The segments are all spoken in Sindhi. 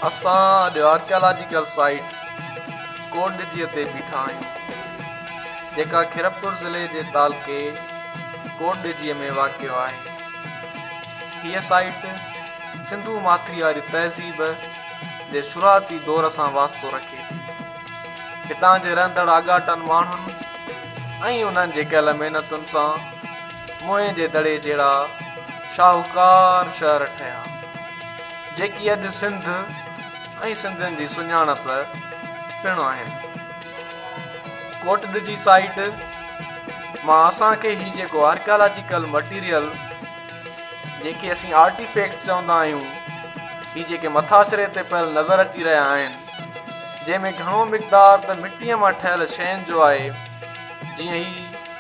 اسان اڄ آرڪيالاجيڪل سائيٽ ڪوٽڏجيء تي بيٺا آهيون، جيڪا خيرپور ضلعي جي تعلقي ڪوٽڏجيء ۾ واقع آهي. هيء سائيٽ سنڌو ماٿري واري تهذيب جي شروعاتي دور سان واسطو رکي ٿي. هتان جي رهندڙ آڳاٽن ماڻهن ۽ انهن جي ڪيل محنتن سان موئن جي دڙي جهڙا شاهوڪار شهر ٺهيا، جيڪي اڄ سنڌ ۽ سنڌين جي سڃاڻپ پڻ آهن. ڪوٽڏ جي سائيٽ مان اسان کي هي جيڪو آرڪيالاجيڪل مٽيريل جنهن کي اسين آرٽي فيڪٽس چوندا آهيون، هي جيڪي مٿاڇري تي پيل نظر اچي رهيا آهن، جنهن ۾ گهڻو مقدار ته مٽيء مان ٺهيل شين جو آهي، جيئن هي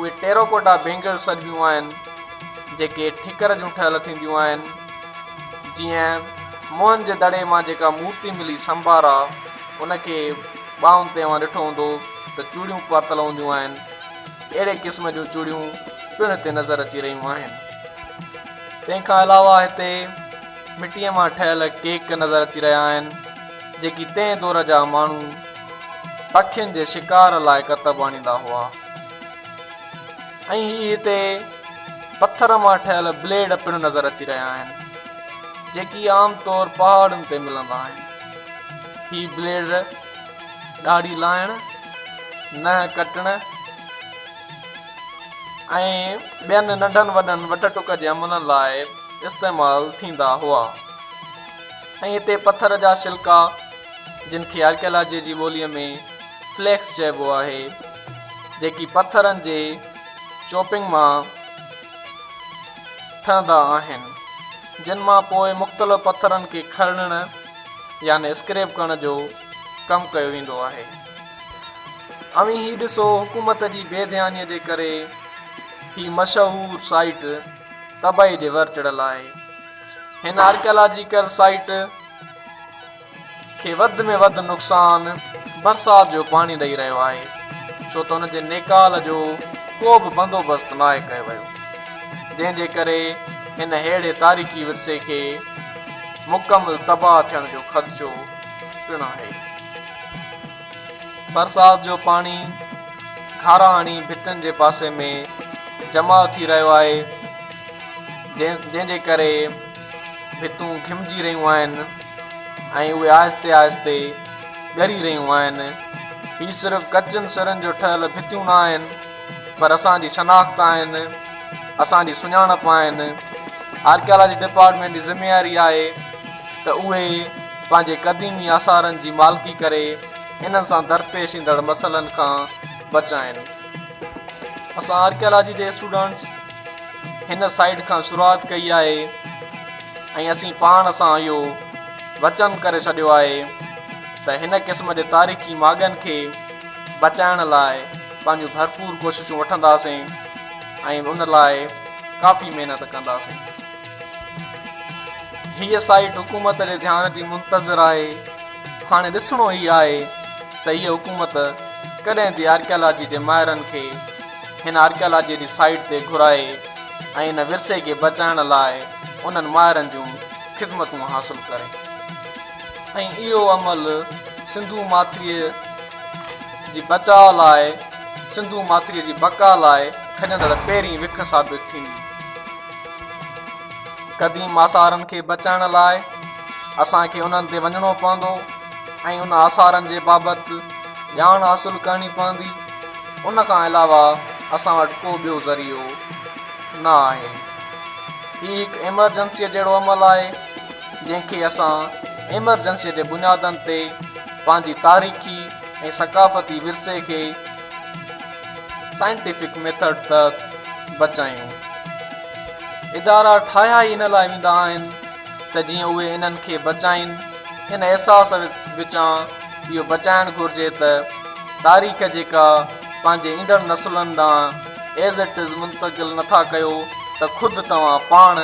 اهي ٽيراڪوٽا بينگلز سڏبيون آهن جيڪي ٺڪر جون ٺهيل ٿينديون آهن جيئن موهن جي دڙي مان جيڪا مورتي ملي سمبارا ان کي ٻانهن تي اوهان ڏٺو هوندو ته چوڙيون پاتل هونديون آهن اهڙي قسم جون چوڙيون پڻ هتي نظر اچي رهيون آهن تنهن کان علاوه هتي مٽي مان ٺهيل ڪيڪ نظر اچي رهيا آهن. جيڪي تنهن دور جا ماڻهو پکين جي شڪار لاء ڪتب آڻيندا هئا ۽ هي هتي پٿر مان ٺهيل بليڊ پڻ نظر اچي رهيا آهن جيڪي عام طور پهاڙن تي ملندا آهن هي بليڊ ڏاڙهي لاهڻ ننهن ڪٽڻ ۽ ٻين ننڍن وڏن وٽ ٽڪ جي عملن لاء استعمال ٿيندا هئا ۽ هتي پٿر جا شلڪا جن کي آرڪيالاجيء جي ٻوليء ۾ فليڪس چئبو آهي، جيڪي پٿرن جي چوپنگ مان ٺهندا آهن، جن مان پوء مختلف پٿرن کي کرڙڻ يعني اسڪريپ ڪرڻ جو ڪم ڪيو ويندو آهي. اوهين هي ڏسو حڪومت جي بي ڌيانيء جي ڪري هي مشهور سائيٽ، تباهي جي ور چڙهيل آهي. هن آرڪيالاجيڪل سائيٽ کي وڌ ۾ وڌ نقصان برسات جو پاڻي ڏئي رهيو آهي، ڇو ته ان جي نيڪال جو ڪو به بندوبست ناهي ڪيو ويو، جنهن جي ڪري هن ههڙي تاريخي ورثي کي مڪمل تباهه ٿيڻ جو خدشو پڻ آهي. برسات جو پاڻي کارا هڻي ڀتين جي پاسي ۾ جمع ٿي رهيو آهي جنهن جي ڪري ڀتون گهمجي رهيون آهن ۽ اهي آهستي آهستي ڳري رهيون آهن هي صرف ڪچن سرن جو ٺهيل ڀتيون نه آهن پر اسانجي شناخت آهن اسانجي سڃاڻپ آهن آرڪيالاجي ڊپارٽمينٽ جي ذميواري آهي ته اهي پنهنجي قديمي آثارن جي مالڪي ڪري انهن سان درپيش ايندڙ مسئلن کان بچائين. اسان آرڪيالاجي جي اسٽوڊنٽس هن سائيٽ کان شروعات ڪئي آهي ۽ اسين پاڻ سان اهو وچن ڪري ڇڏيو آهي ته هن قسم جي تاريخي ماڳن کي بچائڻ لاء پنهنجون ڀرپور ڪوششون وٺنداسين ۽ ان لاء ڪافي محنت ڪنداسين. هيء سائيٽ حڪومت جي ڌيان جي منتظر آهي، هاڻي ڏسڻو هي آهي ته هيء حڪومت ڪڏهن ٿي آرڪيالاجي جي ماهرن کي هن آرڪيالاجي جي سائيٽ تي گهرائي ۽ ان ورثي کي بچائڻ لاء انهن ماهرن جون خدمتون حاصل ڪري ۽ اهو عمل سنڌو ماٿريء جي بچاء لاء سنڌو ماٿريء جي بقا لاء کڄندڙ پهرين وک ثابت ٿيندي. قديم آثارن کي بچائڻ لاء اسان کي انهن تي وڃڻو پوندو ۽ ان آثارن جي بابت ڄاڻ حاصل ڪرڻي پوندي ان کان علاوه اسان وٽ ڪو ٻيو ذريعو نه آهي هي هڪ ايمرجنسيء جهڙو عمل آهي جنهن کي اسان ايمرجنسيء جي بنيادن تي پنهنجي تاريخي ۽ ثقافتي ورثي کي سائنٽيفڪ ميٿڊ تحت بچايون. ادارا ٺاهيا ئي ان لاء ويندا آهن ته جيئن اهي انهن کي بچائين. ان احساس وچان اهو بچائڻ گهرجي ته تاريخ جيڪا پنهنجي ايندڙ نسلن ڏانهن As It Is منتقل نٿا ڪيو ته خود توهان پاڻ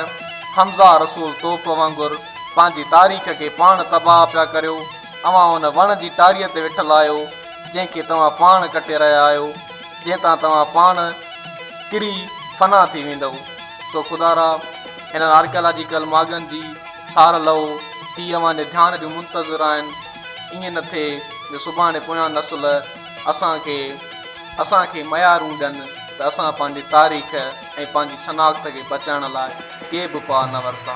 حمزه رسول توف وانگر پنهنجي تاريخ کي پاڻ تباهه پيا ڪريو. اوهان ان وڻ جي ٽاريء تي ويٺل آهيو. جنهن کي توهان پاڻ ڪٽي رهيا آهيو، جنهن تان توهان پاڻ ڪري فنا ٿي ويندؤ. سو خدارا! هنن آرڪيالاجيڪل ماڳن جي سار لهو، هي اوهان جي ڌيان جون منتظر آهن. ائين نه ٿئي جو سڀاڻي پويان نسل اسان کي اسان کي ميارون ڏين ته اسان پنهنجي تاريخ ۽ پنهنجي شناخت کي بچائڻ لاء ڪي به پاء نه ورتا.